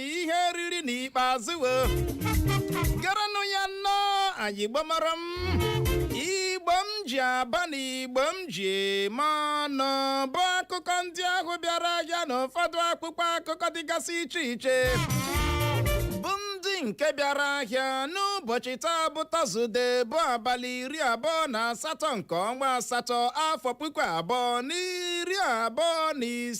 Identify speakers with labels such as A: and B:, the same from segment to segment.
A: ihe eriri n'ikpeazụ o gerenụ ya nnọọ anyị igbo mụrụ m igbo m ji aba na igbo m ji eme ọnụ bụ akụkọ ndị ahụ bịara ahịa na ụfọdụ akwụkwọ akụkọ dịgasị iche iche bụ ndị nke bịara ahịa n'ụbọchị taa bụ tọzụde bụ abalị iri abụọ na asatọ nke ọnwa asatọ afọ puku abụọ na iri abụọ na ise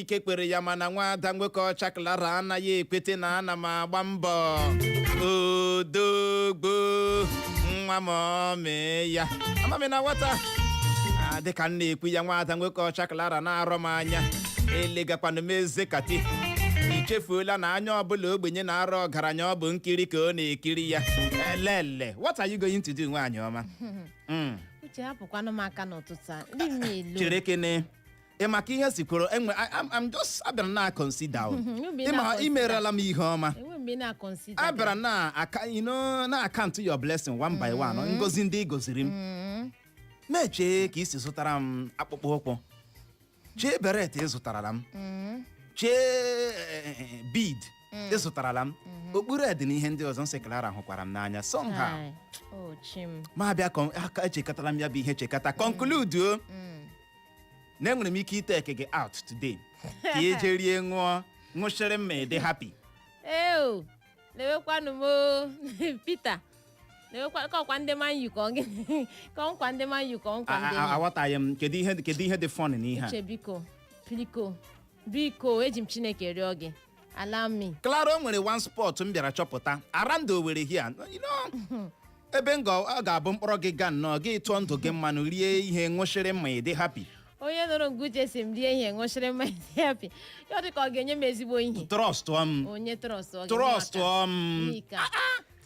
A: ike kwere ya mana nwada nwoke ọcha klara anaghị ekwete na ana m agba mbọ odogwu nwa mọmị ya amaghị na nwata Ah, dịka m na-ekwu ya nwada nwoke ọcha klara na-arọ m anya elegakwanụ m eze kati i chefuola na anya ọbụla ogbenye na-arọ ọgaranya ọ bụ nkiri ka ọ na-ekiri ya elele what are you going to do nwaanyị ọma Mm. uche
B: hapụkwanụ m aka n'ụtụtụ a ndị m na-elu chere kene
A: ị ma ka ihe si kwụrụ enwe I- I'm- I'm just abịara na consider o. Mhm, you've been Ị ma na-consider. i merela m ihe ọma enwe mgbe ị na-akọnsida a bịara na aka you know, na-akaụntụ your blessing one by one ngozi ndị ị goziri m m echee ka i si zụtara m akpụkpọ ụkwụ chee beret ị zụtarala m chee eh, bead ị zụtarala m okpu red na ihe ndị ọzọ m sị klara hụkwara m n'anya somehow ochim m abịa kọ- aka echekọtara m ya bụ ihe chekata conclude o na enwere m ike iteke gị out today ka ị jee rie ṅụọ ṅụchịrị mmaị dị happy eo lewekwanụ
B: m o. Peter lewekwa ka ọkwa ndị Man U ka ọ gị- ka ọ nkwa ndị Man U ka ọ nkwa A- ndị a- a- aghọtaghị m kedu
A: ihe kedu ihe dị fun n'ihe a uche biko biko
B: biko eji m chineke rịọ gị allow me klara o nwere one
A: spot m bịara chọpụta around Owerri here you know ebe m ga- ọ ga-abụ m kpọrọ gị gaa nnọọ gị tụọ ndụ gị mmanụ rie ihe ṅụchịrị mmaị dị happy onye nụrụ nke
B: uche sị m rie ihe ṅụchịrị mmanya dị happy ya ọ dị ka ọ ga-enye m ezigbo ihe trọst m onye
A: trọst
B: ọ ga-enye m trọst aka. m Nika.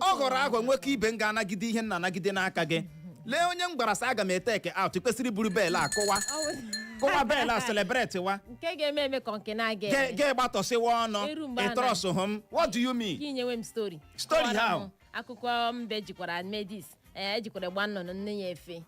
A: ọ ghọrọ aghọ nwoke ibe m ga-anagide ihe m na-anagide n'aka gị lee onye m gwara sị aga m eteke out kwesịrị iburu bell akụwa kụwa bell a celebrate wa nke ga-eme eme ka
B: nke na-aga Ge- eme ge gbatọsịwa
A: ọnụ Eru mgbe a na- ị trọsụhụ m what do you mean ka i nyewe m
B: stori Story Kọwara how? m
A: akụkọ mbe
B: jikwara medis ee ejikwara gba nnụnụ nne ya efe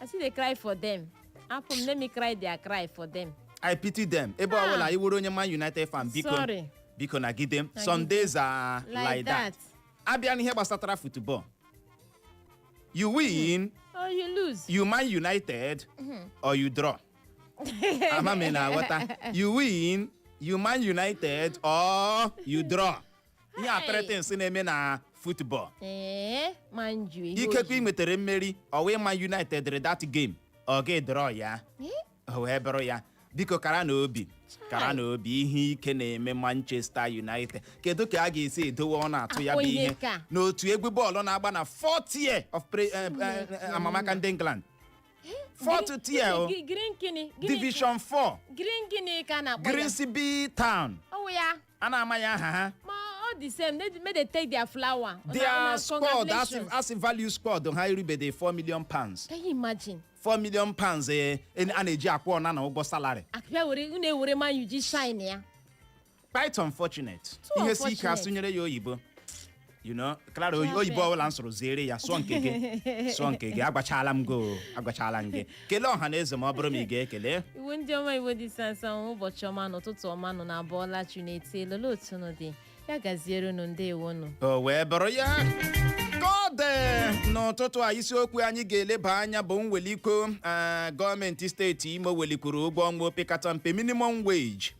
B: I still dey cry for them. Apụ m, let me cry their cry for them. i pity them
A: ebe Ah. ọbụla iwuru onye man united fan biko Sorry. biko nagide m some days are Like like that that. abịa n'ihe gbasatara football you win Oh, you lose.
B: you man united
A: or you draw ama m ị na-aghọta you win you man united or you draw ihe a three things na-eme na futbọl ee
B: man u ihe ikekwe ị ojii. nwetara
A: mmeri ọ wụ man united dịrị that game ọ ga-draw ya Eh, o wee bụrụ ya biko karanụ obi karanụ obi ihe ike na-eme manchester united kedu ka a ga-esi edowe ọnụ atụ ya bụ Akpọ ihe ihe ka. na otu egwu bọọlụ na-agba na fourth tier of pre- eh, eh, Chineke eh, amamaka ndị england fourth tier o Gi- green gịnị gịnị- division 4 green gịnị ka a na-akpọ ya grimsby town ọ wụ ya a na-amaghị aha ha ma ọ dị
B: same they make they take their flower Una- their una squad
A: asị congratulations. asị value squad ha eribede 4 million pounds can you
B: imagine 4 million
A: pounds eh, en- a na-eji akwụ Onana ụgwọ salary akpịa were unu ewere
B: man u ji shine ya quite
A: unfortunate Too ihe si ike unfortunate. asụnyere ya oyibo you know clara oyi- oyibo ọbụla m sụrụ ziere ya sụọ nke gị sụọ nke gị agwachala m gị o, agwachala m gị kelee ọha na eze ma ọ bụrụ ma ị ga-ekele Igbo ndị ọma Igbo
B: dị sansa ụbọchị ọma na ụtụtụ ọma unu abọọla chi na-eti elele otu unu dị ya gaziere unu ndewo nụ o wee bụrụ
A: ya ka ọ dị n'ụtụtụ a isiokwu anyị ga-eleba anya bụ mwelikwu eh, gọọmenti steeti imo welikwuru ụgwọ ọnwa opekata mpe minimum wage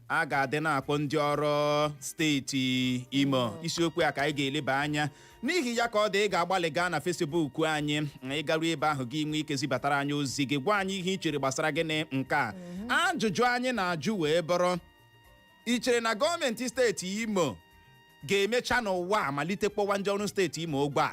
A: a ga-adị na-akwụ ndị ọrụ steeti imo isiokwu a ka anyị ga-eleba anya n'ihi ya ka ọ dị ị ga-agbalị gaa na fesibuk anyị ị garu ebe ahụ gị nwee ike zibatara anyị ozi gị gwa anyị ihe i chere gbasara gịnị nke a ajụjụ anyị na-ajụ wee bụrụ i chere na gọọmenti steeti imo ga-emecha n'ụwa a malite kwụwa ndị ọrụ steeti imo ụgwọ a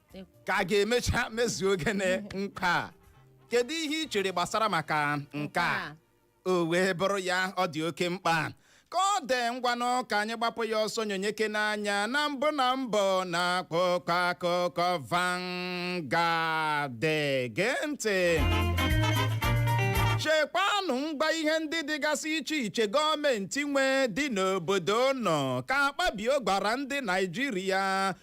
A: ka a ga-emecha mezuo oge na nke a kedu ihe ị chere gbasara maka nke a o wee bụrụ ya ọ dị oke mkpa ka ọ dị ngwanụ ka anyị gbapụ ya ọsọ nyonyekene anya na mbụ na mbụ n'akwụkwọ akụkọ Vanguard gee ntị chekwanụ ngwa ihe ndị dịgasị iche iche gọọmenti nwe dị n'obodo unu ka Akpabio gwara ndị naijiria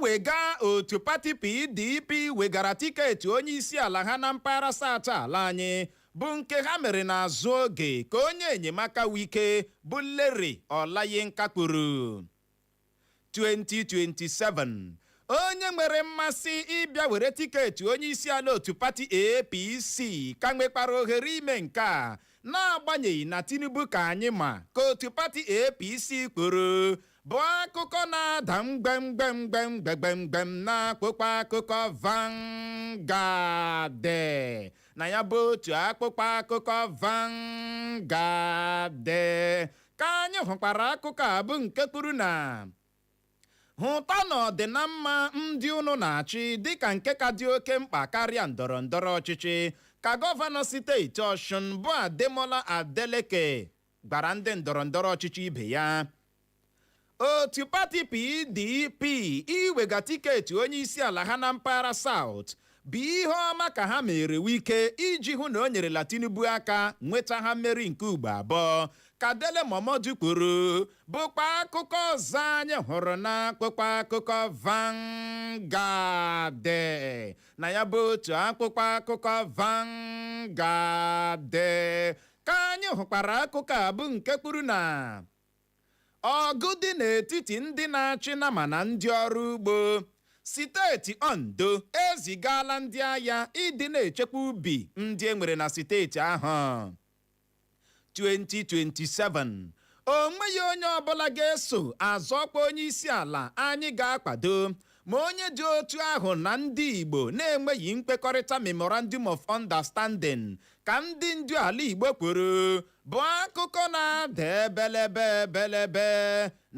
A: Mwega otu pati PDP wegara tiketi onye isi ala ha na mpaghara South ala anyị bụ nke ha mere n'azụ oge ka onye enyemaka Wike bụ Lere Olayinka kwuru. 2027 onye nwere mmasị ịbịa were tiketi onye isi ala otu pati APC ka nwekwara ohere ime nke a n'agbanyeghị na Tinubu ka anyị ma ka otu pati APC kwuru bụ akụkọ na-ada mgbemgbem mgbemgbem mgbem n'akwụkwọ akụkọ Vanguard na ya bụ otu akwụkwọ akụkọ Vanguard ka anyị hụkwara akụkọ a bụ nke kwuru na hụtanụ ọdịnamma ndị unu na-achị dịka nke ka dị oke mkpa karịa ndọrọ ndọrọ ọchịchị ka gọvanọ steeti Ọshụn bụ Ademola Adeleke gwara ndị ndọrọ ndọrọ ọchịchị ibe ya otu pati PDP iwega tiketi onye isi ala ha na mpaghara South bụ ihe ọma ka ha meere Wike iji hụ na o nyerela Tinubu aka nweta ha mmeri nke ugbo abụọ ka Dele Momodu kwuru bụkwa akụkọ ọzọ anyị hụrụ n'akwụkwọ akụkọ Vanguard na ya bụ otu akwụkwọ akụkọ Vanguard ka anyị hụkwara akụkọ a bụ nke kwuru na ọgụ dị n'etiti ndị na-achị nama na ndị ọrụ ugbo steeti ondo ezigala ndị agha ịdị na-echekwa ubi ndị e nwere na steeti ahụ 2027 o nweghị onye ọbụla ga-eso azọkwa onye isi ala anyị ga-akwado Ma onye dị otu ahụ na ndị Igbo na-enweghị nkwekọrịta Memorandum of Understanding, ka ndị ndu ala Igbo kwuru, bụ akụkọ na-ada ebelebe ebelebe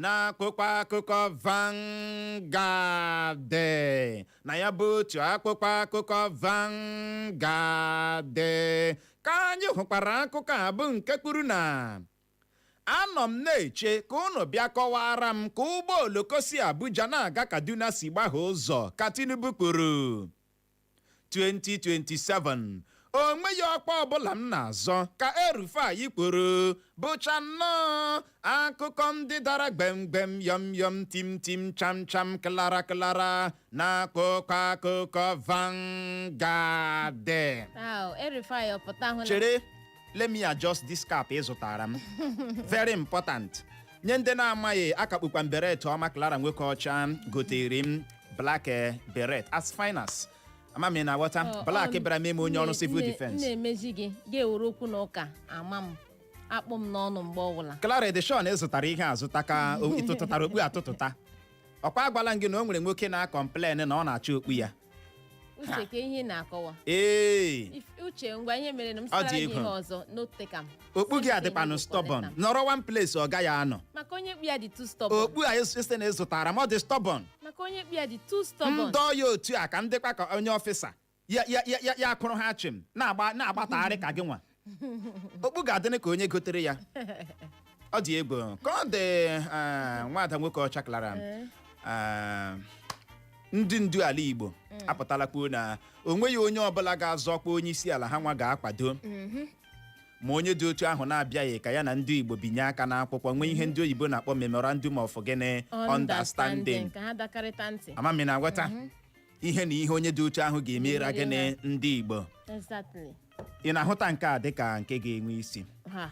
A: n'akwụkwọ akụkọ Vanguard. Na ya bụ otu akwụkwọ akụkọ Vanguard ka anyị hụkwara akụkọ a bụ nke kwuru na Anọ m na-eche ka unu bịa kọwaara m ka ụgbọ oloko si Abuja na-aga Kaduna si gbahie ụzọ, ka Tinubu kwuru. 2027, o nweghị ọkwa ọbụla m na-azọ, ka El-Rufai kwuru, bụcha nnọọ akụkọ ndị dara gbem gbem, yọm yọm, tim tim, cham cham, klara klara. n'akwụkwọ akụkọ Vanguard Au,
B: El-Rufai ọ pụta hụ na chere let
A: me adjust this cap ị zụtara m very important nye ndị na-amaghị akakpukwa m beret ọma Clara nwoke ọcha gotere m black eh, beret as fine as amami na nghọta Ọ- black ọ- bịara mee m onye ọrụ nne- civil nne- defense na-emezi
B: gị ga-ewere okwu na ụka ama m akpụ m n'ọnụ mgbe ọbụla Clara Edishon zụtara
A: ihe azụta ka o- ị tụtụtara okpu atụtụta ọ kwa agwala m gị na o nwere nwoke na-akọmplen na ọ na-achọ okpu ya uche
B: ka ihe ị na-akọwa ee If- uche ngwa ihe mere na m Ọ dị sara gị egwu. ihe ọzọ n'otekam okpu gị
A: adịkwanụ stubborn nọrọ one place ọ gaghị anọ maka onye kpu ya dị
B: too stubborn okpu a ị sị
A: na ị zụtara m ọ dị stubborn maka onye kpu ya dị
B: too stubborn m dọọ ya otu a ka m
A: dịkwa ka onye ọfịsa ya ya ya ya ya akụrụ ha chịm na-agba na-agbatagharị ka gị nwa okpu ga-adịnị ka onye gotere ya ọ dị egwu ka ọ dị eh, nwada nwoke ọcha klara eh, ndị ndu ala igbo apụtala kwuo na o nweghị onye ọbụla ga-azọ ọkwa onye isi ala ha nwa ga-akwado ma onye dị otu ahụ na-abịaghị ka ya na ndị igbo binye aka n'akwụkwọ nwee ihe ndị oyibo na-akpọ memorandum of gịnị understanding ka ha dakarịta
B: ntị amami na nghọta
A: ihe na ihe onye dị otu ahụ ga-emere Ga-emere gịnị ha. ndị igbo exactly ị na-ahụta nke a dịka nke ga-enwe isi ha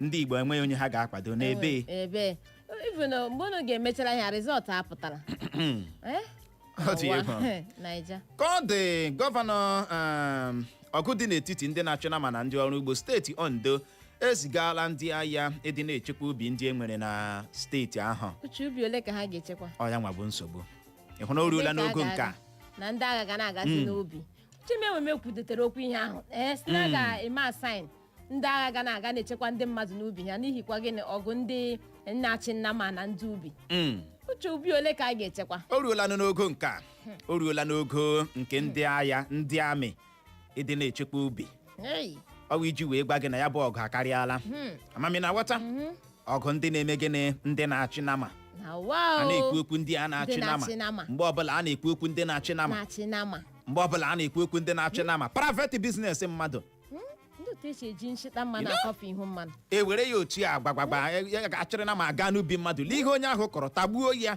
A: ndị igbo enweghị onye ha ga-akwado n'ebe ebe even
B: uh, mgbe unu ga-emechara ya rizọt apụtara
A: Eh? Ọ dị Ụwa. egwu. naija ka ọ dị gọvanọ um, ọgụ dị n'etiti ndị na-achụ nama na ndị ọrụ ugbo steeti ondo ezigala ndị agha ịdị na-echekwa ubi ndị e nwere na steeti ahụ uche ubi ole ka ha
B: ga-echekwa ọ ya nwa bụ nsogbu
A: ị hụ na o ruola Ebe ka a n'ogo nke a ga-aga? na ndị agha ga
B: na-agazi Mm. n'ubi chimemume kwudotere okwu ihe ahụ ee sị na Mm. ga-eme assign ndị agha ga na-aga na-echekwa ndị mmadụ n'ubi ha n'ihi kwa gịnị ọgụ ndị na-achị nama na ndị ubi Mm. uche ubi ole ka a ga-echekwa o ruola nụ n'ogo nke
A: a o ruola n'ogo nke ndị agha ndị amị ịdị na-echekwa ubi Ei, ọ bụ iji wee gwa gị na ya bụ ọgụ akarịala hmm, ama m ị na-aghọta mhm. ọgụ ndị na-eme gịnị ndị na-achị nama Na wa a o. na-ekwu okwu ndị a na-achị Ndị nama na-achị nama. mgbe ọbụla a na-ekwu okwu ndị na-achị nama Na-achị nama. mgbe ọbụla a na-ekwu okwu ndị na-achị nama private business mmadụ Hmm, Ndị otu esi eji nshịta mmanụ akọfe ihu mmanụ. e were ya otu a gbagbagba ya ga-achịrị nama aga n'ubi mmadụ lee ihe onye ahụ kọrọ tagbuo ya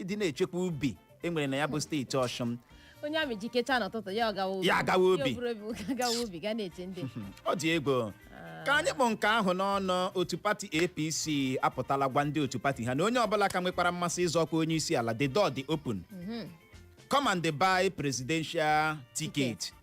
A: ịdị na-echekwa ubi e nwere na ya bụ steeti Ọshụn onye amị
B: jikecha n'ụtụtụ ya ọ gawa ubi Ya agawa ubi. Ya o buru obi
A: ga gawa ubi ga
B: na-eche ndị ọ dị egwu
A: ka anyị kpụ nke ahụ n'ọnụ otu pati apc apụtala gwa ndị otu pati ha na onye ọbụla ka nwekwara mmasị ịzọ ọkwa onye isi ala the door dị open come and buy presidential ticket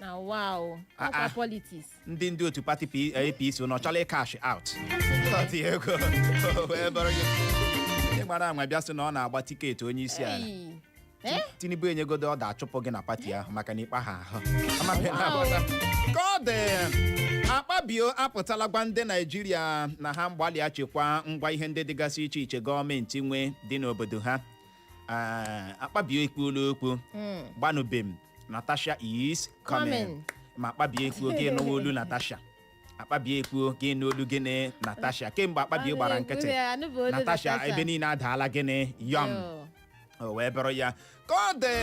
A: na wow Ah, ọkwa ah. politics ndị ndị otu
B: pati
A: P- apc na ọ chọla ịcash out Ọ dị egwu o wee bụrụ gị. Ị gbara anwa bịa sị na ọ na-agba tiketi onye isi ala Ei. Eh? tinubu enyegodo ọ ga-achụpụ gị na pati ahụ maka na ịkpa ha ahụ Amaghị na agbata. ka ọ dị akpabio apụtala gwa ndị naijiria na ha gbalịa chekwa ngwa ihe ndị dịgasị iche iche gọọmenti nwe dị n'obodo ha Ee, akpabio ekwuola okwu Mm. gbanubem natasha is coming Coming. ma akpabio ekwuo gị nụwa olu natasha akpabio ekwuo gị nụ olu gịnị natasha kemgbe akpabio gbara nkịtị natasha ebe niile adaala gịnị yọm o wee bụrụ ya ka ọ dị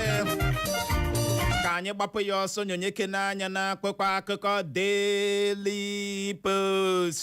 A: ka anyị gbapụ ya ọsọ nyonyekene anya na akwụkwọ akụkọ Daily Post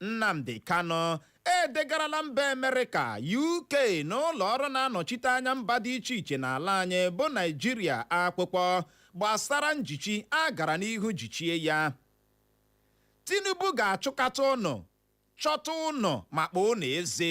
A: Nnamdi Kanu edegarala mba Amerịka, UK na ụlọ ọrụ na-anọchite anya mba dị iche iche n'ala anyị bụ Naịjirịa akwụkwọ gbasara njichi a gara n'ihu jichie ya. Tinubu ga-achụkata ụnụ, chọta ụnụ ma kpọọ ụnụ eze,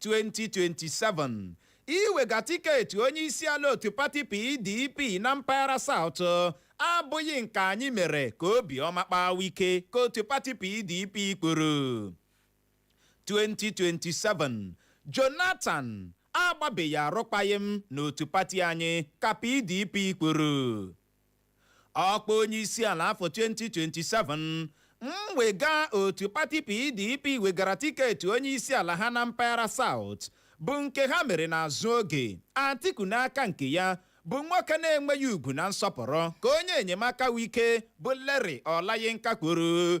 A: 2027 iwega tiketi onye isi ala otu pati PDP na mpaghara South abụghị nke anyị mere ka obi ọma kpaa Wike ka otu pati PDP kwuru 2027 Jonathan agbabeghị arụkwaghịm n'otu pati anyị ka PDP kwuru ọkwa onyeisiala afọ 2027 mwega otu pati pdp wegara tiketi onyeisiala ha na mpaghara South bụ nke ha mere n'azụ oge atiku n'aka nke ya bụ nwoke na-enweghị ugwu na nsọpụrụ ka onye enyemaka wike bụ Lere Ọlayinka kwuru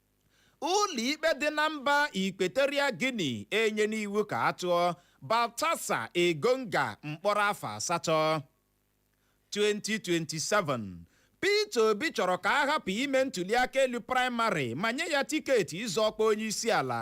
A: ụlọikpe dị na mba Equatorial Guinea enyena iwu ka a tụọ Baltasar Engonga mkpọrọ afọ asatọ 2027 Peter Obi chọrọ ka a hapụ ime ntuliaka elu praịmarị ma nye ya tiketi ịzọ ọkwa onye isi ala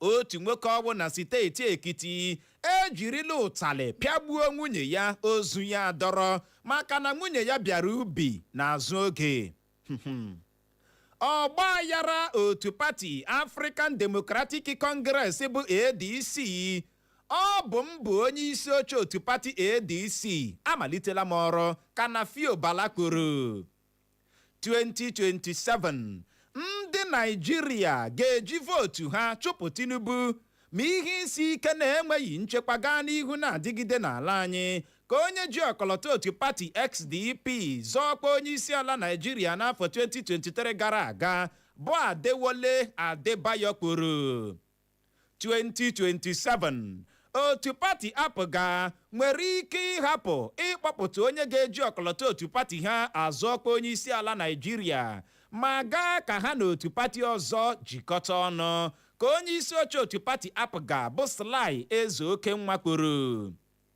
A: otu nwoke ọnwụ na steeti Ekiti ejirila ụtalị pịagbuo nwunye ya ozu ya adọrọ maka na nwunye ya bịara ubi n'azụ oge ọgba aghara otu pati African Democratic Congress bụ ADC ọ bụ m bụ onye isi oche otu pati ADC amalitela m ọrụ ka Nafiu Bala kwuru 2027 ndị naijiria ga-eji vootu ha chụpụ tinubu ma ihe isi ike na enweghị nchekwa gaa n'ihu na-adịgide n'ala anyị ka onye ji ọkọlọtọ otu pati sdp zọọ ọkwa onye isi ala naijiria n'afọ 2023 gara aga bụ adewole adebayo kwuru 2027 otu pati APGA nwere ike ịhapụ ịkpọpụta onye ga-eji ọkọlọtọ otu pati ha azọ ọkwa onye isi ala naijiria ma gaa ka ha na otu pati ọzọ jikọta ọnụ ka onye isi oche otu pati APGA bụ Sly Ezeokenwa kwuru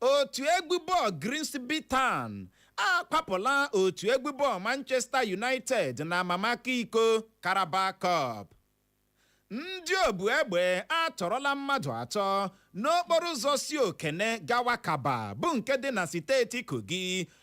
A: otu egwu bọọlụ Grimsby Town akwapụla otu egwu bọọlụ Manchester United na amamaka iko Carabao Cup ndị obu egbe atọrọla mmadụ atọ n'okporo ụzọ si Okene gawa Kabba bụ nke dị na steeti Kogi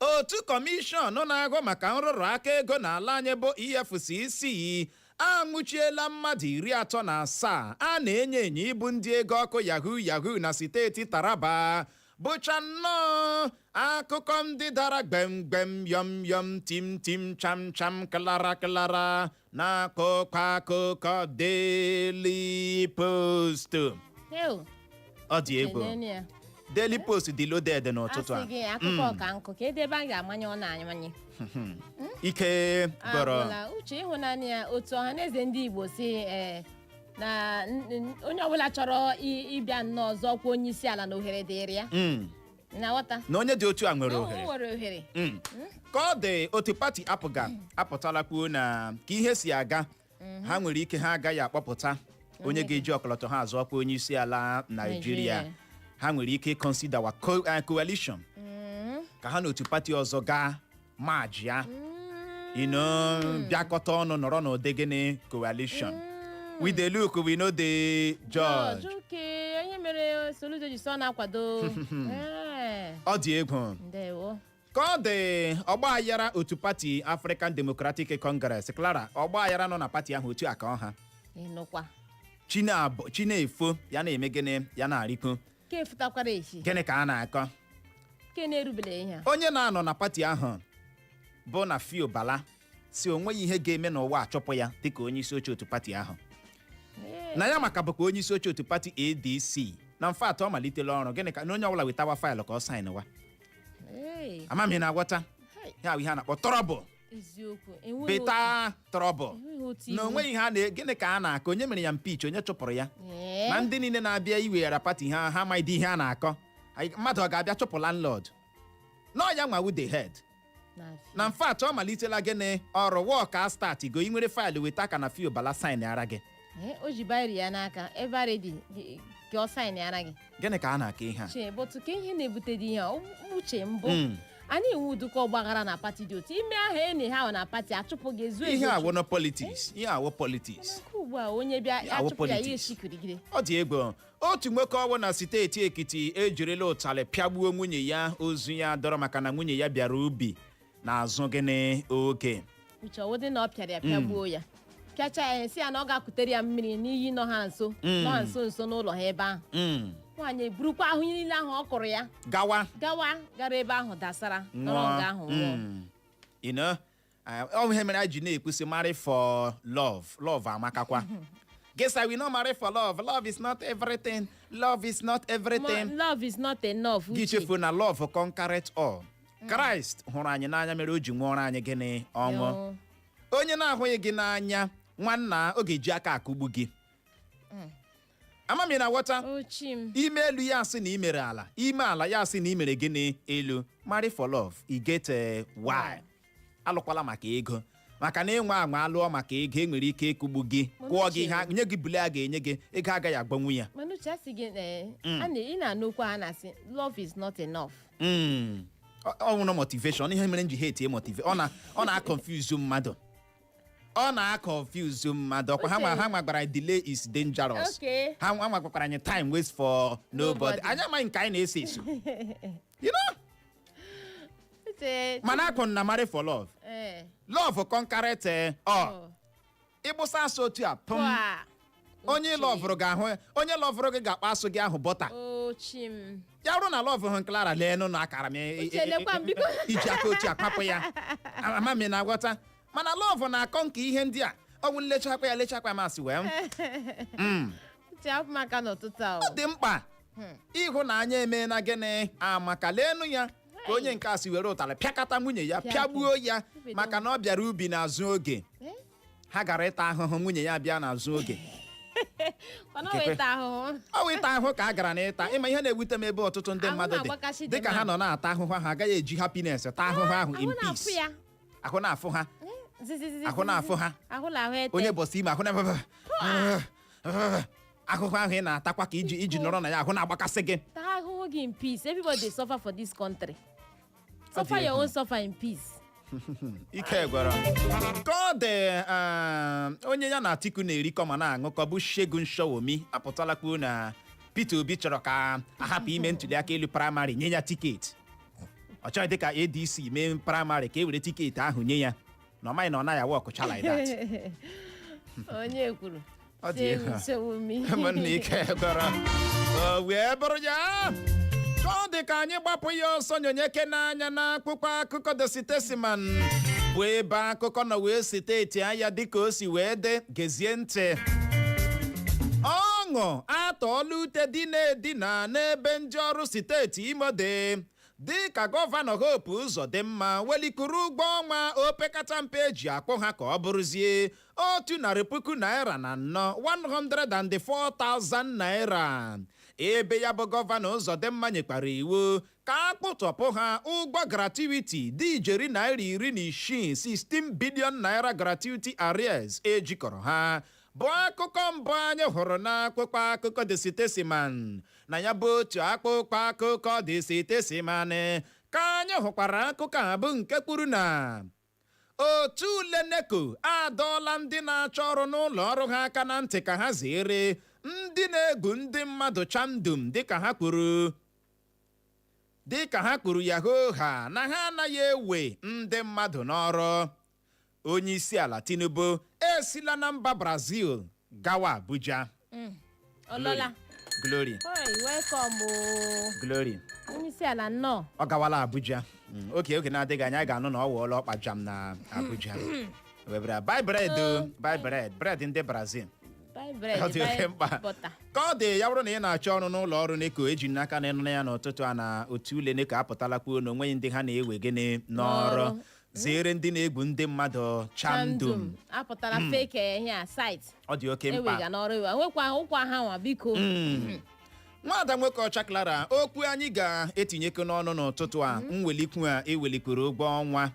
A: otu kọmishọn na-ahụ maka nrụrụ aka ego n'ala anyị bụ EFCC anwụchiela mmadụ iri atọ na asaa a na-enyo enyo ịbụ ndị ego ọkụ yahoo yahoo na steeti Taraba bụcha nnọọ akụkọ ndị dara gbem gbem yọm yọm tim tim cham cham klara klara n'akụkọ akụkọ Daily Post Ew, ọ dị egwu kenenu ya. Daily Post dị loaded n'ụtụtụ a Asị gị akụkọ ọka nkụ ka
B: e debe a ga-amanye ọ na-amanye
A: ike bọrọ Agwụla, uche
B: ịhụnanya ya otu Ọhanaeze ndị Igbo sị ee, na n- n- onye ọbụla chọrọ i- ịbịa nnọọ zọọ ọkwa onye isi ala na ohere dịrị ya Mm. na-aghọta na onye dị otu a nwere o ohere
A: nwere ohere Mm. ka ọ dị otu pati APGA apụtala kwuo na ka ihe si aga ha nwere ike ha agaghị akpọpụta onye ga-eji ọkọlọtọ ha azọ ọkwa onye isi ala naijiria Naịjirịa. ha nwere ike ịconsiderwa co- eh, coalition ka ha na otu pati ọzọ gaa majịa you know bịakọta ọnụ nọrọ n'ụdị gịnị coalition we dey look we no dey judge Judge, okay. Ọ ihe mere
B: Soludo ji so na-akwado.
A: Eh, ọ dị egwu Ndewo. ka
B: ọ
A: dị ọgbaghara otu pati african democratic congress clara ọgbaghara nọ na pati ahụ otu a ka ọ ha Ịnụkwa.
B: Chinab-
A: chi na-efo ya na-eme gịnị ya na-arịkwu ka
B: efutakwara echi gịnị ka a
A: na-akọ
B: ka na-erubere ihe a onye na-anọ na pati
A: ahụ bụ nafiu bala sị onweghị ihe ga-eme n'ụwa achụpụ ya dịka onye isi oche otu pati ahụ Ee, na ya nwa ka bụkwa onye isi oche otu pati adc na in fact ọ malitela ọrụ gịnị ka na onye ọbụla wetawa file ka ọ saịnwa ee, ama m ị na-aghọta hai. ya bụ ihe a na-akpọ trouble
B: eziokwu enweghị
A: better trouble otu- enweghị otu na iwu. onweghị ihe a na gịnị ka a na-akọ onye mere ya impeach onye chụpụrụ ya Ee, na ndị niile na-abịa iweghara pati ha ha amaghịdị ihe a na-akọ Anyị- mmadụ ọ ga-abịa chụpụ landlord na ọ ya nwa wụ the head na- na in fact ọ malitela gịnị ọrụ work a start go ị nwere file weta ka nafiu bala saịnara gị Ee, o ji biro
B: ya n'aka ebe a ready ka ọ saịnịara gị gịnị ka a na-akọ ihe
A: a chee bụtụ ka
B: ihe na-ebute ụdị ihe a ọ- uche mbụ Mm. a na-enwe ụdịka ọgbaghara na pati dị otu ime aha enyi ha ahụ na pati achụpụ gị ezu ihe ezu awụ na
A: politics ihe a wụ politics nke ugbu a onye
B: bịa Ya wụ achụpụ ya ya politics. esi kirigiri ọ dị
A: egwu otu nwoke ọ wụ na steeti ekiti ejirila ụtalị pịagbuo nwunye ya ozu ya dọrọ maka na nwunye ya bịara ubi n'azụ gịnị oge uche ọ wụdị na
B: ọ pịara ya pịagbuo ya pịacha ya sị ya na ọ ga-akutere ya mmiri n'iyi nọ ha nso Mm. nọ ha nso nso n'ụlọ ha ebe ahụ Mm, nwaanyị eburukwa ahụ ihe niile ahụ ọ kụrụ ya gawa gawa gara ebe ahụ dasara nọrọ nga ahụ nwụọ Mm. You know,
A: ah, ọ ihe mere anyị ji na-ekwu sị marry for love love amakakwa gị asị i will not marry for love love is not everything love is not everything Mo- love is not
B: enough gị uche chefuo na
A: love conquereth all christ hụrụ anyị n'anya mere o ji nwụọrọ anyị gịnị ọnwụ Ọnwụ. onye na-ahụghị gị n'anya nwanna ọ ga-eji aka akụgbu gị ama m ị na-aghọta ochi m i mee elu ya asị na i mere ala i mee ala ya asị na i mere gịnị elu marry for love e get eh, why alụkwala maka ego maka na ị nwaa anwa alụọ maka ego e nwere ike ịkụgbu gị kụọ gị ihe a- nye gị blow a ga-enye gị ego agaghị agwọnwu ya mana uche asị gị ee a na-
B: ị na-anụ okwu a na-asị love is not enough Mm.
A: Ọ- ọ nwụrụ motivation ihe mere m ji hate motive ọ na ọ na confuse mmadụ ọ na confuse mmadụ ọkwa ha nwa ha nwa gwara delay is dangerous Okay. ha nwa nwa gwakwara anyị time waits for nobody Nobody. anyị amaghị nke anyị na-eso eso You know? Uche, mana akụ na marry for love eh, love conquereth eh, all oh, ị gbụsa asụ otu a pụm pụa. onye Uche, lọvụrụ ga-ahụ ya. onye lọvụrụ gị ga-akpa asụ gị ahụ bọta o chi m. ya bụrụ na lọvụ ahụ cleara lee nụ na akara m e- e- Uche, lekwa m, biko. iji aka otu a kwapụ ya ama m ị na-aghọta mana lọvụ na-akọ nke ihe ndị a ọ wụ nlechakwa ya lechakwa ya masị wee m. Mm. Uche, hapụ m aka n'ụtụtụ a, o. ọ dị mkpa ịhụnanya emeela gịnị maka leenụ ya ka onye nke a si were ụtarị pịakọta nwunye ya Pịa pịagbuo ya Obi dị maka na ọ bịara ubi n'azụ oge Eh? ha gara ịta ahụhụ nwunye ya bịa n'azụ oge mana ọ weta ahụhụ ọ wụ ịta ahụhụ ka a gara n'ịta ị ma ihe na-ewute m ebe ọtụtụ ndị Ahụ mmadụ dị na-agbakasị dị dịka ha mmadụ. nọ na-ata ahụhụ ha agaghị eji happiness ta ahụhụ ahụ ahụ in na-afụ peace ya ahụ na-afụ ha Zizizizi. Ahụ na-afụ ha. ahụ na ahụ ete onye bọsị ime ahụ na ahụhụ ahụ ị na-atakwa ka ị ji ị ji nọrọ na ya ahụ na-agbakasị gị taa ahụhụ gị
B: in peace everybody dey suffer for this country suffer your egwu. own suffer in peace ike
A: gwara ka ọ dị um, onye ya na atiku na-erikọ ma na-aṅụkọ bụ Segun Showunmi apụtala kwuo na peter obi chọrọ ka a hapụ ime ntuli aka elu praịmarị nye ya tiketi ọ chọghịdị ka adc mee praịmarị ka e were tiketi ahụ nye ya na ọ maghị na ọ naghị awọkụcha like that
B: onye kwuru Ọ dị
A: egwu. Showunmi. Ụmụnna ike gwara o wee bụrụ ya ka ọ dị ka anyị gbapụ ya ọsọ nyonyekene anya n'akwụkwọ akụkọ The Statesman bụ ebe akụkọ nọ wee site etia ya dịka o si wee dị gezie ntị ọṅụ atọọla ute dina edina n'ebe ndị ọrụ steeti Imo dị dị ka gọvanọ Hope Uzodimma welikwuru ụgwọ ọnwa opekata mpe e ji akwụ ha ka ọ bụrụzie otu narị puku naira na anọ 104,000 naira ebe ya bụ gọvanọ Ụzọdịmma nyekwara iwu ka a kwụtọpụ ha ụgwọ gratuity dị ijeri naira iri na isii 16 billion naira gratuity arrears e jikọrọ ha bụ akụkọ mbụ anyị hụrụ n'akwụkwọ akụkọ The Statesman na ya bụ otu akwụkwọ akụkọ The Statesman ka anyị hụkwara akụkọ a bụ nke kwuru na otu ule neko adọọla ndị na-achọ ọrụ n'ụlọ ọrụ ha aka na ntị ka ha zere ndị na-egwu ndị mmadụ chandum dịka ha kwuru dịka ha kwuru ya hoohaa na ha anaghị ewe ndị mmadụ n'ọrụ onye isi ala tinubu esila na mba brazil gawa abuja ọ lọla glory Oi, welcome oo. glory onye isi ala
B: nnọọ ọ gawala abuja
A: Mm, oke oge na-adịghị anya anyị ga-anụ na ọ wụọla ọkpa jam na abuja webara buy bread o, buy bread bread ndị brazil Buy bread, ọ dị buy oke mkpa butter. ka ọ dị ya bụrụ na ị na-achọ ọrụ n'ụlọ ọrụ NECO eji n'aka na ị nụ ya n'ụtụtụ a na otu ule NECO apụtala kwuo na o nweghị ndị ha na-ewe gịnị n'ọrụ N'ọrụ. zeere ndị na-egwu ndị mmadụ chandum apụtara
B: fake eh, ihe a site ọ dị oke mkpa
A: ewega n'ọrụ iwe
B: nwekwa ụkwa ha nwa biko
A: nwada nwoke ọcha clara okwu anyị ga-etinyekọ n'ọnụ n'ụtụtụ a mwelikwu a e welikwuru ụgwọ ọnwa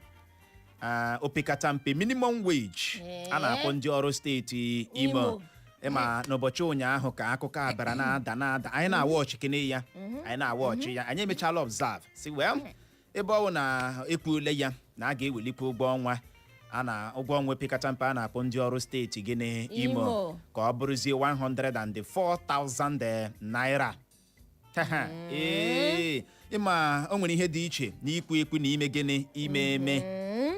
A: ah, opekata mpe minimum wage Ee. a na-akwụ ndị ọrụ steeti imo Imo. ị ma n'ụbọchị ụnyaahụ ka akụkọ a bịara na-ada na-ada anyị na-awa ọchị kene ya anyị na-awa ọchị ya anyị emechala observe sị well ebe ọ bụ na e kwuole ya na a ga-ewelikwu ụgwọ ọnwa a na ụgwọ ọnwa opekata mpe a na-akwụ ndị ọrụ steeti gịnị imo Imo. ka ọ bụrụzie 104,000 naira Haha, ee ị ma o nwere ihe dị iche na ikwu ekwu na ime gịnị ime eme Mm,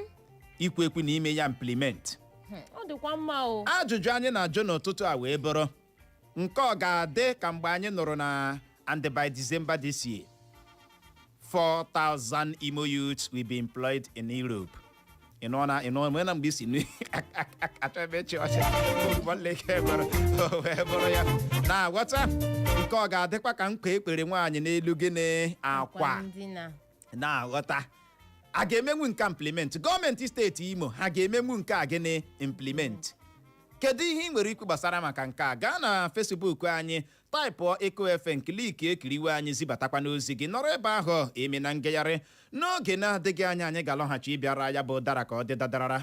A: ikwu ekwu na ime ya implement hmm, ọ dịkwa
B: mma o ajụjụ anyị na-ajụ
A: n'ụtụtụ a wee bụrụ nke ọ ga-adị ka mgbe anyị nụrụ na and by December this year 4,000 Imo youths will be employed in Europe. Ị nọ na ị nọ na mgbe isi nri achọ ebe echi ọcha nwanne gị ebere o wee bụrụ ya na-aghọta nke ọ ga-adịkwa ka nkwa e kwere nwaanyị n'elu gịnị akwa ndina na-aghọta a ga-emenwu nke implement gọọmenti steeti imo ha ga-emenwu nke a gịnị implement kedu ihe ị nwere ikwu gbasara maka nke a gaa na Facebook anyị taịpụọ Eko FM kliki ekiriwe anyị zibatakwanụ ozi gị nọrọ ebe ahụ emena ngagharị n'oge na-adịghị anya anyị ga-alọghachi ịbịara ya bụ dara ka ọ dị dadarara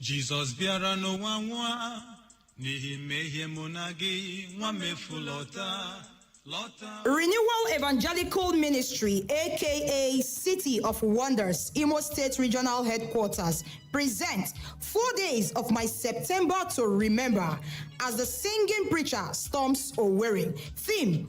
C: jizọs bịara n'ụwa nwụọ n'ihi mmehie mụ na gị nwa mmefu lọta lọta
D: Renewal Evangelical Ministry, aka City of Wonders, Imo State Regional Headquarters, presents four days of my September to remember as the singing preacher storms Owerri. Theme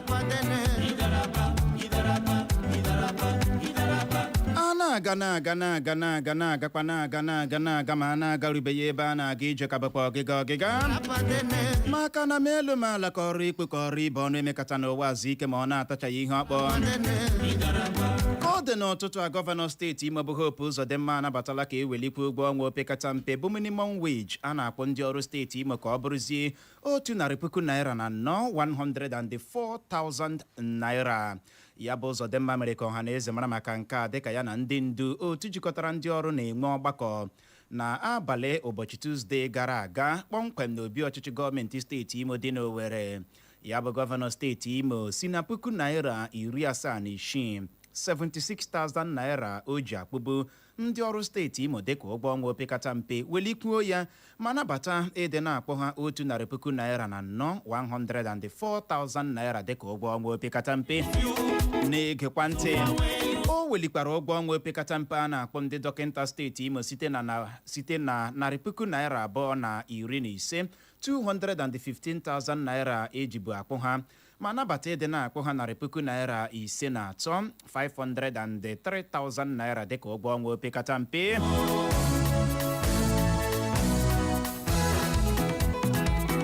A: na-aga na-aga na-aga na-aga na-agakwa na-aga na-aga na-aga ma a na-agarubeghị ebe a na-aga ije ka bụkwa ọgịga ọgịga maka na m elu m ala ka ọrụ ikpe ka ọrụ ibe ọnụ emekata n'ụwa ezu ike ma ọ na-atachaghị ihe ọ kpụ ka ọ dị n'ụtụtụ a gọvanọ steeti Imo bụ Hope Uzodimma anabatala ka e welikwuo ụgwọ ọnwa opekata mpe bụ minimum wage a na-akwụ ndị ọrụ steeti Imo ka ọ bụrụzie otu narị puku naira na anọ 104,000 naira ya bụ Uzodimma mere ka ọha na eze mara maka nke a dịka ya na ndị ndu otu jikọtara ndị ọrụ na-enwe ọgbakọ na abalị ụbọchị Tuzdee gara aga kpọmkwem n'obi ọchịchị gọọmenti steeti Imo dị n'Owerri ya bụ gọvanọ steeti Imo si na puku naira iri asaa na isii 76,000 naira o ji akpụbu ndị ọrụ steeti imo dịka ụgwọ ọnwa opekata mpe welikwuo ya ma nabata ịdị na-akpụ ha otu narị puku naira na anọ 104,000 naira dịka ụgwọ ọnwa opekata mpe na-egekwa ntị o welikwara ụgwọ ọnwa opekata mpe a na-akpụ ndị dọkịta steeti imo site na na site na narị puku naira abụọ na iri na ise 215,000 naira ejibu akpụ ha ma nabata ịdị na-akpụ ha narị puku naira ise na atọ 503,000 naira dịka ụgwọ ọnwa opekata mpe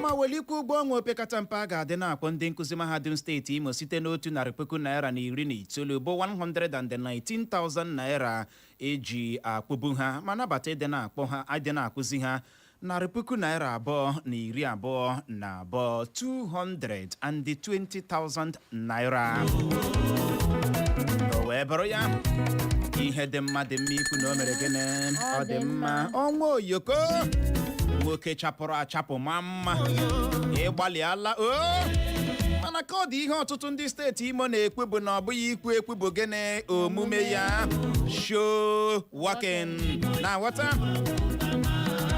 A: ma welikwa ụgwọ ọnwa opekata mpe a ga-adị na-akpụ ndị nkụzi mahadum steeti imo site n'otu narị puku naira na iri na itoolu bụ 119,000 naira eji akpụbu ha ma nabata ịdị na-akpụ ha ịdị na-akwụzi ha narị puku naira abụọ na iri abụọ na abụọ 220,000 naira o wee bụrụ ya ihe dị mma dị mma ikwu na o mere gịnị ọ dị mma Ọnwa Oyoko nwoke chapụrụ achapụ maa mma ị gbalịala o mana ka ọ dị ihe ọtụtụ ndị steeti imo na-ekwu bụ na ọ bụghị ikwu ekwu bụ gịnị omume ya show working na wata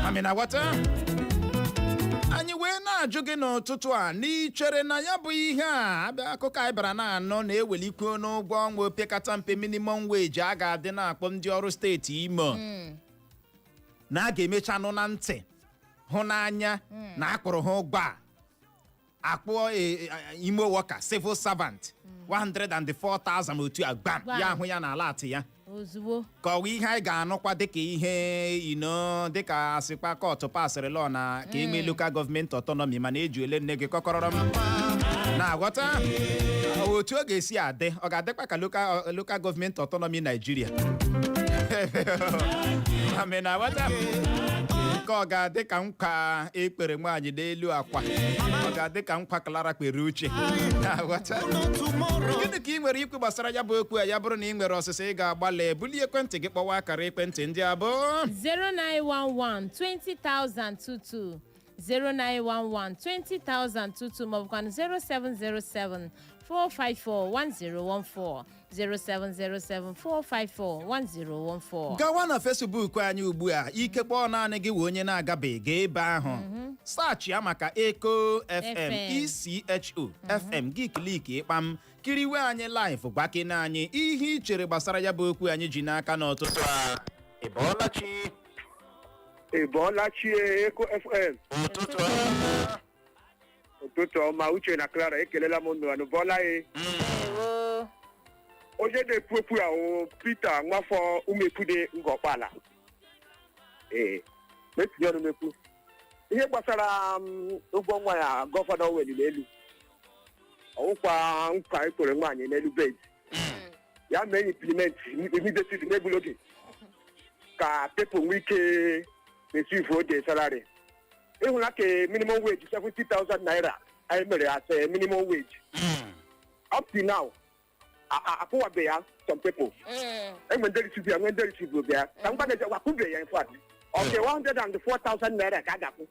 A: mami na wata anyị wee na-ajụ gị n'ụtụtụ a na i chere na ya bụ ihe a abịa akụkọ anyị bara na-anụ na e welikwuo n'ụgwọ ọnwa opekata mpe minimum wage a ga-adị na-akpụ ndị ọrụ steeti imo na a ga-emecha nụ na ntị hụ n'anya na a kpụrụ ha ụgwọ a a kpụọ e- e- Imo worker civil servant 104,000 otu a gbam Gbam. ya ahụ ya na alert ya ozugbo ka ọ wụ
B: ihe anyị
A: ga-anụkwa dịka ihe ino dịka a sịkpa court passịrị law na ka e nwee local government autonomy mana eji ole nne gị kọkọrọrọ m na-aghọta otu ọ ga-esi adị ọ ga-adịkwa ka local local government autonomy Nigeria amị na-aghọta ka ọ ga-adị ka nkwa e kpere nwaanyị n'elu akwa ọ ga-adị ka nkwa Clara kpere Uche Na-aghọta? gịnị ka ị nwere ikwu gbasara ya bụ okwu a ya bụrụ na ị nwere ọsịsa ị ga-agbalị bulie ekwentị gị kpọwa akara ekwentị ndị a
B: bụ 0911 20022 0911 20022 maọbụkwanụ 0707 454 1014 07074541014 gawa na
A: fesbuk anyị ugbu a ikekwe ọ naanị gị wụ onye na-agabeghị gaa ebe ahụ saachịa maka eko fm echo fm gị kliki kpam kiriwe anyị live gwakene anyị ihe ị chere gbasara ya bụ okwu anyị ji n'aka n'ụtụtụ a ị bọọla chi
E: Ị bọọla chi Eko FM. ụtụtụ ọma ụtụtụ ọma uche na clara ekelela m unu anụ bọọla ya ndewo onye na-ekwu okwu ya ọ peter nwafọ ụmụekwune ngọ okpala ee m etinye ọnụ m ekwu ihe gbasara m, ụgwọ ọnwa ya gọvanọ weliri elu ọ wụkwa nkwa e kwere nwaanyị n'elu bed ya mee implement immediately n'egbula oge ka people nwee ike resivuo the salary ị hụla ka minimum wage 70,000 naira anyị mere as a minimum wage Mm. up to now a- a- akwụwabe ya some people Mm. e nwe ndị risivu ya nwe ndị risivubeghị ya ka ngwa na-eje wakwụbe ya in fact ọke 104,000 naira ka a ga-akwụ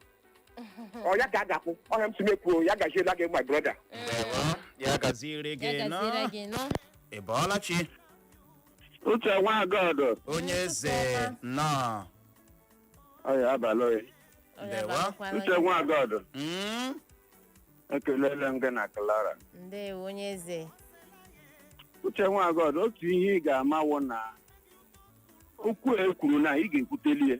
E: ọ ya ka a ga-akwụ ọ ihe a m sị m ekwuo ya gaziela gị my brother Ndewo.
A: ya gaziere gị nnọọ. ị bọọla chi
E: uche nwagọdụ onye eze
A: nnọọ
E: ọya abalị oyi Ọ ya Ndewo.
A: abalịkwala uche nwagọdụ
E: Mm, ekelele m gị na Clara ndewo onye
B: eze
E: uche nwagọdụ otu ihe ị ga-ama wụ na okwu a e kwuru na ị ga-ekwuteli ya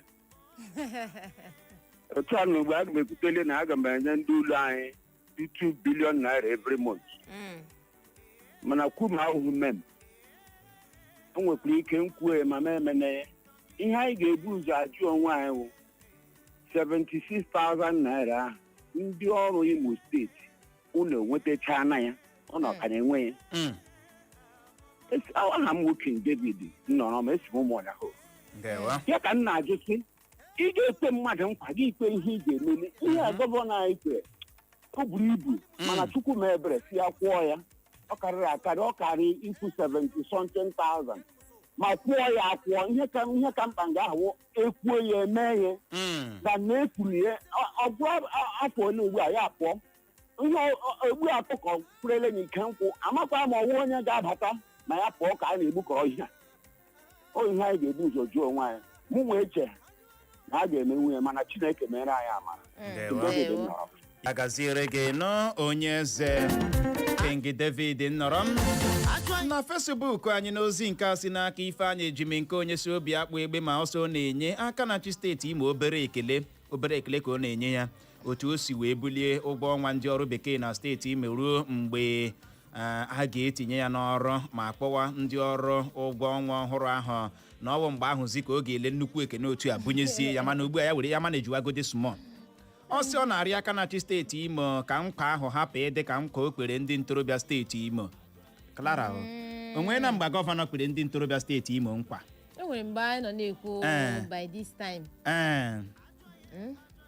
E: otu a na ugbu a aga m ekwuteli na aga m enye ndị ụlọ anyị 2 billion naira every month Mm. mana kwu ma ahụhụ mem o nwekwara ike m kwue ma m emene ya ihe anyị ga-ebu ụzọ ajụ onwe anyị wụ 76,000 naira ahụ ndị ọrụ imo steeti unu enwetachaana ya unu ka na-enwe ya Mm. Esi- aha m wụ king david nnọrọm esi m ụmụọnyahụ ndewo ya ka m na-ajụ sị ị ga-ekwe mmadụ nkwa gị ekwe ihe ị ga-emeli ihe a gọvanọ anyị kwere o buru ibu mana chukwu mee ebere sị ya kwụọ ya ọ karịrị akarị ọ karị ikwu 70 something thousand ma kwụọ ya akwụọ ihe ka ihe ka mkpa nga ahụ e kwuo ya e mee ya Mm. na na e kwuru ya ọ- ọ bụ a- afọ ole ugbu a ya pụọ nwa egbu ọkụkọ kwurele na ike nkwụ amakwa ma ọ wụ onye ga-abata ma ya pụọ ka a na-egbukọ ọhịa ọ ihe anyị ga-ebu ụzọ jụọ onwe anyị mụnwa eche na a ga-emenwu ya mana chineke meere anyị amara Ndewo. David nnọrọm.
A: ya gaziere gị nnọọ onye eze king david nnọrọm na fesbuk anyị n'ozi nke a si n'aka ifeanyị ejimkonye si obiakpụ egbema ọ sị ọ na-enye aka na-achị steeti imo obere ekele obere ekele ka ọ na-enye ya otu o si wee bulie ụgwọ ọnwa ndị ọrụ bekee na steeti imo ruo mgbe a ga-etinye ya n'ọrụ ma kwụwa ndị ọrụ ụgwọ ọnwa ọhụrụ ahụ na ọwụ mgbe ahụzi ka ọ ga-ele nnukwu ekene otu a bunyezie ya mana ugbu a ya were ya manejiwagode small ọ sị ọ na-arị aka na-achị steeti imo ka nkwa ahụ hapụ ịdị ka nkwa o kwere ndị ntorobịa steeti imo Clara o nwena mgbe gọvanọ kwere ndị ntorobịa steeti imo nkwa e nwere mgbe anyị nọ
B: na-ekwu Eh. by this time ee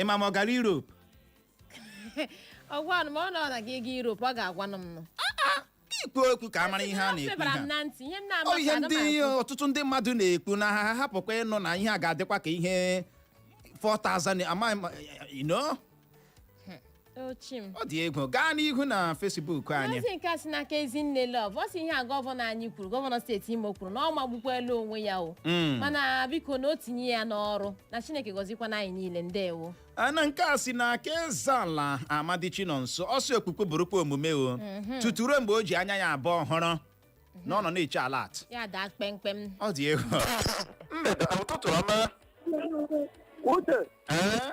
A: ịma ma ọ gara Europe
B: ọgwanụ ma ọ nọ na gị ego Europe ọ ga-agwanụ m nụ ikwu
A: okwu ka a mara ihe a na-ekwu febara ihe m a. na ntị ihe m na-ama ọ ihe ka ndị ana m ekwu. ọtụtụ ndị mmadụ na-ekwu na ha hapụkwa ịnụ na ihe a ga-adịkwa ka ihe 4000 amaghị m you know?
B: ochim ọ dị
A: egwu gaa n'ihu na facebook anyị ozi nke a si n'aka
B: ezinne love ọ sị ihe a gọvanọ anyị kwuru gọvanọ steeti imo kwuru na ọ magbukwala onwe ya o Mm. mana biko na o tinye ya n'ọrụ na chineke gọzikwana anyị niile ndewo Ah, na nke a si
A: n'aka ezeala amadi chinonso ọ sị okwukwu bụrụkwa omume o tutu ruo mgbe o ji anya ya abụọ hụrụ na ọ nọ na-eche alert ya daa kpemkpem
B: ọ dị egwu
A: mgbede ụtụtụ ọma
E: Uche, Ee?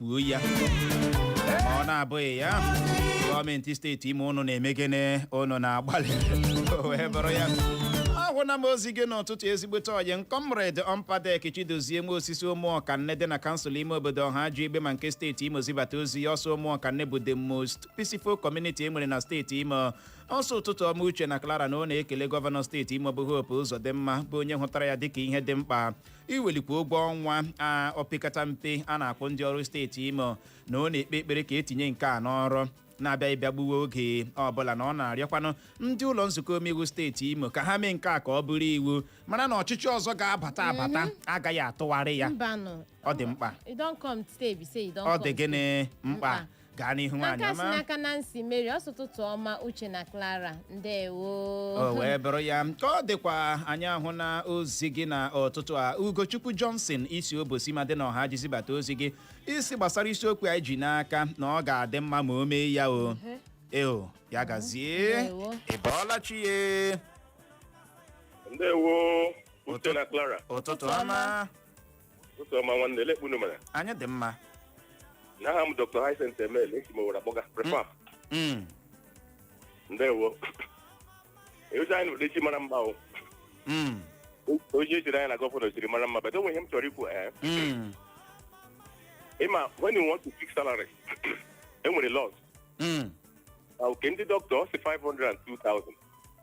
A: kwuo ya ma ọ na-abụghị ya gọọmenti steeti imo ụnụ na-eme gịnị ụnụ na-agbalị o wee bụrụ ya ahụna m ozi gị n'ụtụtụ ezigbote ọyị m comrade ọmpadek chidozie nwosu si ụmụọkanne dị na kansụl ime obodo ohaji egbema nke steeti imo zibata ozi ya ọ sị ụmụọkanne bụ the most peaceful community e nwere na steeti imo ọ sị ụtụtụ ọma uche na clara na ọ na-ekele gọvanọ steeti imo bụ hope uzodimma bụ onye hụtara ya dịka ihe dị mkpa iwelikwa ụgwọ ọnwa a opekata mpe a na-akwụ ndị ọrụ steeti imo na ọ na-ekpe ekpere ka e tinye nke a n'ọrụ na-abụghị ịbịa gbuwe oge ọbụla na ọ na-arịọkwanụ ndị ụlọ nzukọ omeiwu steeti imo ka ha mee nke a ka ọ bụrụ iwu mana na ọchịchị ọzọ ga-abata abata agaghị atụgharị ya mbanụ ọ dị mkpa you don come today be say you don ọ come dị gịnị mkpa Mkpa. gaa n'ihu nwaanyị ọma nke a si n'aka nancy
B: mary ọ sị ụtụtụ ọma uche na clara ndewo o wee bụrụ
A: ya ka ọ dịkwa anyị ahụna ozi gị n'ụtụtụ a ugochukwu johnson i si obosima dị na ohaji zibata ozi gị ị sị gbasara isiokwu anyị ji n'aka na ọ ga-adị mma ma o mee ya o eo ya gazie Ndewo. ị bọọla chi ya ndewo
F: uche na clara ụtụtụ ọma
A: ụtụ
F: ọma nwanne olee kpa unu mere anyị dị
A: mma na
F: aha m dr hyacinth emele esi m owere akpọga prefab Mm, ndewo eozi anyị n'ụdị chi mara mma o mm, ozi ejiri anyị na gọvanọ jiri mara mma but o nwere ihe m chọrọ ikwu ee mm, ịma when you want to fix salary e nwere laws mm. na nke ndị dọkịta ọ sị 500 and 2000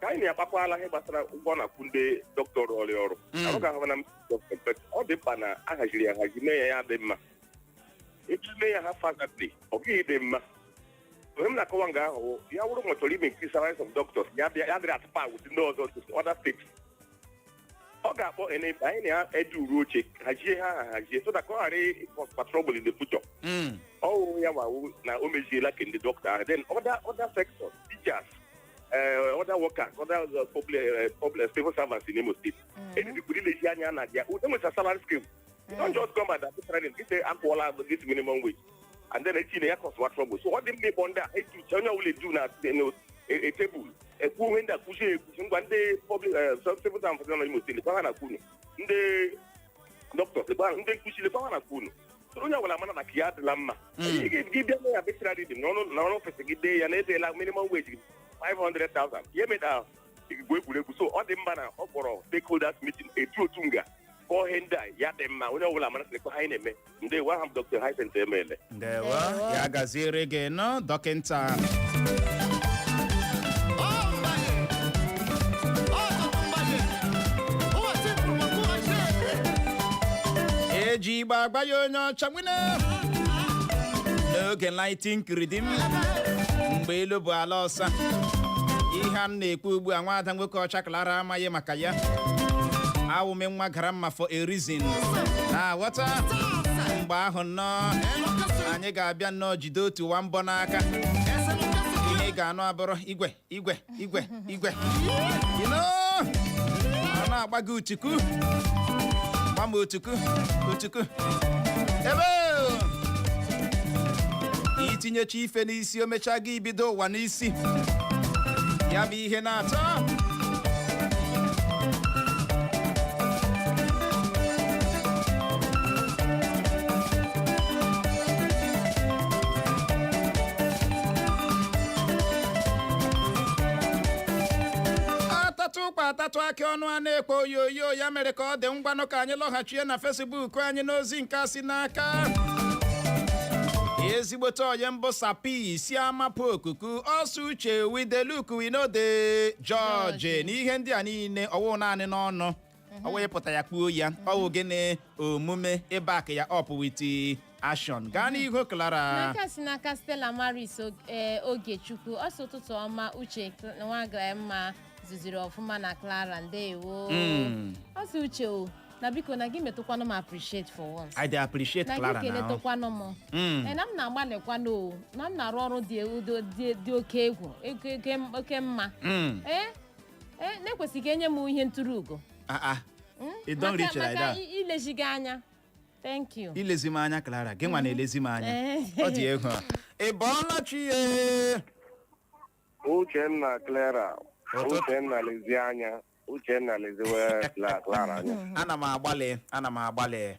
F: ka anyị na-akpakwala ihe gbasara ụgwọ a na-akwụ ndị dọkịta ọrụ ọrụ ọrụ Mm. arụ ga-ahụ na m dọkịta but ọ dị mkpa na a haziri ya ahazi mee ya ya dị mma etu mee ya haphazardly ọ gaghị adị mma ihe m na-akọwa nga ahụ ya wụrụ ma ọ chọrọ ime nke salaries of doctors ya bịa- ya dịrị at par with ndị ọzọ other states ọ ga-akpọ ene- anyị na-ede uru oche hazie ya ahazi so that ka ọ ghara ịcausekwa trouble in the future Mm. ọ wụ ya wawu na o meziela nke ndị dọkịta ahụ then other other sectors teachers eh, other workers other eh, public eh, public civil servants in Imo State ebibikwuru ilezi anya na their own salary scale you don't just come and arbitrarily say akwụọla this minimum wage and then echi na ya causewa trouble so ọ dị mma ịkpọ ndị a etu uche onye ọbụla edu na tebụl ekwu ihe ndị akwụzi ekwuzi ngwa ndị public civil servants nọ na Imo State lekwa ihe a na-akwụ unu ndị dọkịta lekwa ha- ndị nkuzi lekwa ihe a na-akwụ unu So onye ọbụla mara na nke ya adịla mma Mm. Ị ga- gị bịa arbitrarily nọrọ nọrọ office gị dee ya na edeela minimum wage gị 500,000 ya eme ka igwu egwuregwu so ọ dị mma na ọ kpọrọ stakeholders meeting etu otu nga kọọ ihe ndị a ya dị mma onye ọbụla mara sịkwa ihe anyị na-eme ndewo aha m Dr Hyacinth Emele ndewo ya
A: gaziere gị nọ dọkịnta eji igbe agba ya onye ọcha n'oge nineteen kiridim mgbe elu bụ ala ọsa ihe a na-ekwu ugbu a nwaada nwoke ọcha Clara amaghị maka ya awụ m nwa gara mma for a reason na-aghọta mgbe ahụ nnọọ anyị ga-abịa nnọọ jide otu nwa mbọ n'aka ihe ị ga-anụ abụrụ igwe igwe igwe igwe You know, a na-agba gị utuku gba m utuku utuku ebe i tinyecha ife n'isi o mechaa gị ibido ụwa n'isi ya bụ ihe na-atọ a tatụ ụkwa a tatụ akị ọnụ a na-ekpo oyoyo ya mere ka ọ dị ngwanụ ka anyị lọghachie na Facebook anyị n'ozi nke a si n'aka ezigbote onye mbụ sapi si amapụ ọkụkọ ọsọ uche wideluk winode George na ihe ndị a niile ọ wụ naanị n'ọnụ ọ wee pụta ya kwuo ya ọ wụ gịnị omume ịback ya up with action gaa n'ihu Clara nke a si n'aka stella
B: maris Og- eh, ogechukwu ọ sị ụtụtụ ọma uche Cl- nwaga mma zụziri ọfụma na clara ndewo Mm. ọ sị uche o na biko na gị metụkwanụ m appreciate for once I dey appreciate na gị
A: Clara now keletụkwanụ m
B: Mm. Eh, na m na-agbalịkwanụ o na m na-arụ ọrụ dị udo- dị dị oke egwu oke- oke- oke mma Mm. ee Eh, na e kwesịghị enye m ihe nturu ugo Ah, ah. Mm?
A: E don Maka- reach like maka that. i- ilezi gị
B: anya thank you ilezi m anya clara gị
A: nwa na-elezi m anya Eh. ọ dị egwu a. ị bọọla chi
F: ye uche na clara Ụtụtụ- uchenna lezie anya uchenna leziwe Cla- clara anya ana m agbalị
A: ana m agbalị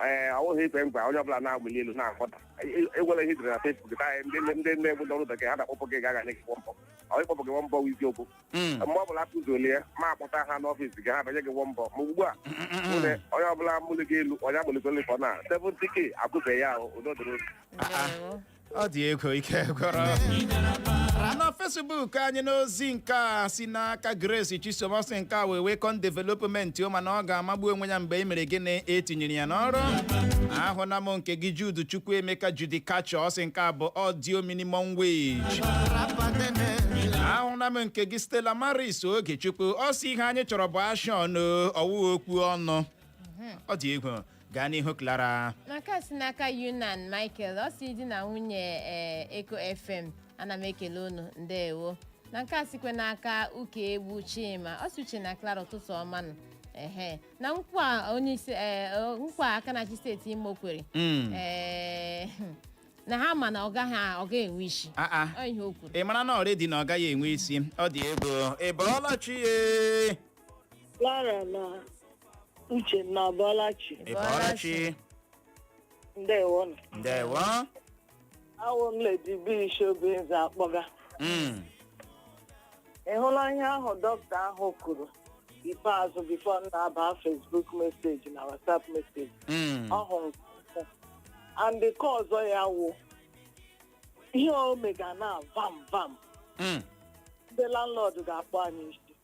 F: ee ọ wụghị ikwe nkwa onye ọbụla na-amụli elu na-akpọta egwere ihe e dere na fesbuk taa ndị ndị ndị egwu n'ọrụ bekee ha na-akpọpụ gị gaga nye gị wọmbọ ọ ịkpọpụ gị wọmbọ wụ isiokwu Mm. mgbe ọbụla akụzoli ya ma akpọta ha n'ọfịs gị ha banye gị wọmbọ ma ugbu a mụ na onye ọbụla mụli gị elu onye amụligoli fọ na 70k akwụbeghị ya ahụ udo dịrị unu. Ah, ah. Ndewo.
A: ọ dị egwu ike gwụrụ na facebook anyị n'ozi nke a si n'aka grace chisom ọ sị nke a wụ a welcome development o mana ọ ga-amagbu onwe ya mgbe e mere gịnị e tinyere ya n'ọrụ ahụna m nke gị jude chukwuemeka judi kacha ọ sị nke a bụ audio minimum wage ahụna m nke gị stella maris ogechukwu ọ sị ihe anyị chọrọ bụ action ọ wụghị okwu ọnụ ọ dị egwu gaa n'ihu Clara na nke a si
B: n'aka yunan michael ọ sị di na nwunye ee eko fm ana m ekele unu ndewo na nke a sikwa n'aka ukaegbu chima ọ sị uche na clara ụtụtụ ọma nụ ehe na nkwa onye isi ee o- nkwa aka na-achị steeti imo kwere Mm. ee na ha ma na ọ gaghị ọ gaghị enwe isi Ah, ah. ọ ihe o kwuru ị marana already na ọ
A: gaghị enwe isi ọ dị egwu ị bọọla chi ye
G: Clara na Uche unu abọọla chi. ị bọọla chi Ndewo nụ. ndewo Awụ m Lady B shi Obinze akpọga. Mm, Ị hụla ihe ahụ dọkịta ahụ kwuru ikpeazụ before m na-aba Facebook message na WhatsApp message. mm, Ọ hụrụ m. And nke ọzọ ya wụ ihe o mega na vam vam mm. ndị landlord ga-akpọ anyị isi.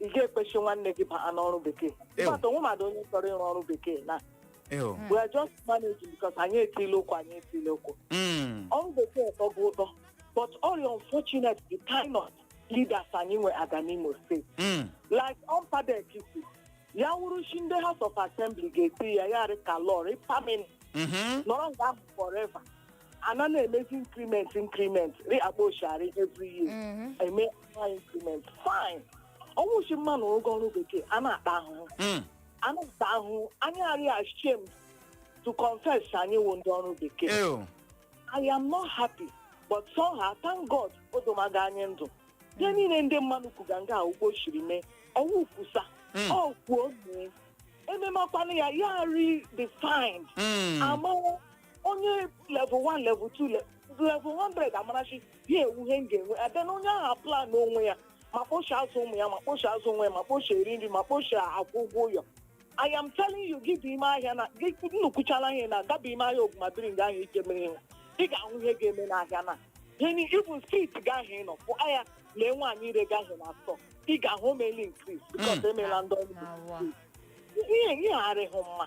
G: ị ga-ekwe shị nwanne gị baa n'ọrụ bekee Ew. mmadụ o nwe mmadụ onye chọrọ ịrụ ọrụ bekee na Ew. we are just managing because anyị etile ụkwụ anyị etile ụkwụ Mm. ọrụ bekee tọbu ụtọ but all unfortunate the kind of leaders anyị nwega n'imo steeti Mm. like ọmpadek sị ya wụrụ shị ndị house of assembly ga-eti ya ya rị ka law rị permanent Mhm. nọrọ nga ahụ forever ana na-emezi increment increment rị kpa o shi arị every year Mhm. eme annual increment fine ọnwụ chi mma na ụgwọ ọrụ bekee a na-ata ahụhụ Mm. a na-ata ahụhụ anyị arị ashamed to confess anyị wụ ndị ọrụ bekee Ew. I am not happy, but somehow, thank God, odomaga anyị ndụ. Ihe niile ndị mmadụ kwuga nga a wụ kpa o shiri mee, ọwụ kwusa, Mm. ọ kwuo mee. Ememakwana ya, ya redefined. Mm. Amara onye level 1 level 2 le- level 100 amarachi ya ewu ihe m ga-enwe abịa na onye ahụ plan onwe ya ma kpa o shi azụ ụmụ ya ma kpa o shi azụ onwe ya ma kpa o shi eri nri ma kpa o shi akwụ ụgwọ ụlọ I am telling you gị dị ime ahịa na gị nnukwuchala ihe na gaba ime ahịa ogwumabiri nga ahụ ike mere ihe ị ga-ahụ ihe ga-eme n'ahịa na gịnị ịbụ street gaahụ ịnọ pụ ahịa lee nwaanyị ire gaahụ na atọ ị ga-ahụ omeli increase because emela ndị ọrụ Awa. ihe ihe arịghị mma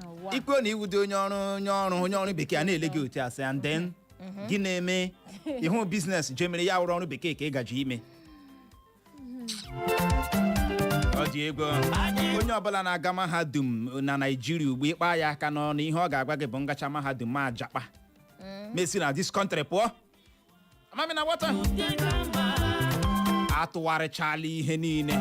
A: Ụwa. i kwuo na ị wụdị onye ọrụ onye ọrụ onye ọrụ bekee a na-ele gị otu a sị and then gị na-eme ịhụ biznes je mere ya wụrụ ọrụ bekee ka ị gaji ime ọ dị egwu onye ọbụla na-aga mahadum na naijiria ugbu a ị kpa ya aka n'ọnụ ihe ọ ga-agwa gị bụ m gachaa mahadum m ajapa m esi na this country pụọ amami na wọta atụgharịchala ihe niile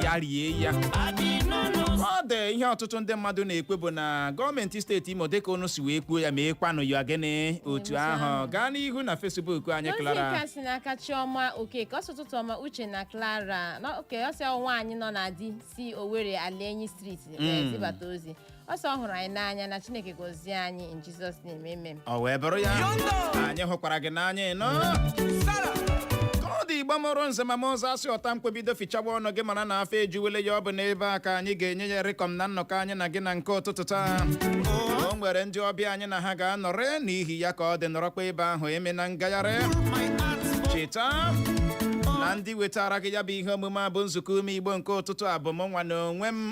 A: ya rie ya ọ dị ihe ọtụtụ ndị mmadụ na-ekwu bụ na gọọmenti steeti imo dịka unu si wee kwuo ya mekwanụ ya gịnị otu ahụ gaa n'ihu na fesbuk anyị N'ozi Clara nke a si n'aka
B: Chioma Okeke ọ sị ụtụtụ ọma Uche na Clara na- oke ọ sị nwaanyị nọ na di si Owerri Alaenyi Street wee zibata ozi ọ sị ọ hụrụ anyị n'anya na chineke gọzie anyị in jizọs name amen ọ wee bụrụ
A: ya anyị hụkwara gị n'anya nnọọ ka ọ dị igbo mụrụ nze ma mụọ ọzọ a sị ọta mkpe bido fichawa ọnụ gị mara na afọ ejuwele ya ọ bụ n'ebe a ka anyị ga-enye ya rịkọm na nnọkọ anyị na gị na nke ụtụtụ taa o nwere ndị ọbịa anyị na ha ga-anọrị n'ihi ya ka ọ dị nọrọkwa ebe ahụ emena ngagharị cheta na ndị wetara gị ya bụ ihe omume a bụ nzukọ ụmụ igbo nke ụtụtụ a bụ mụnwa na onwe m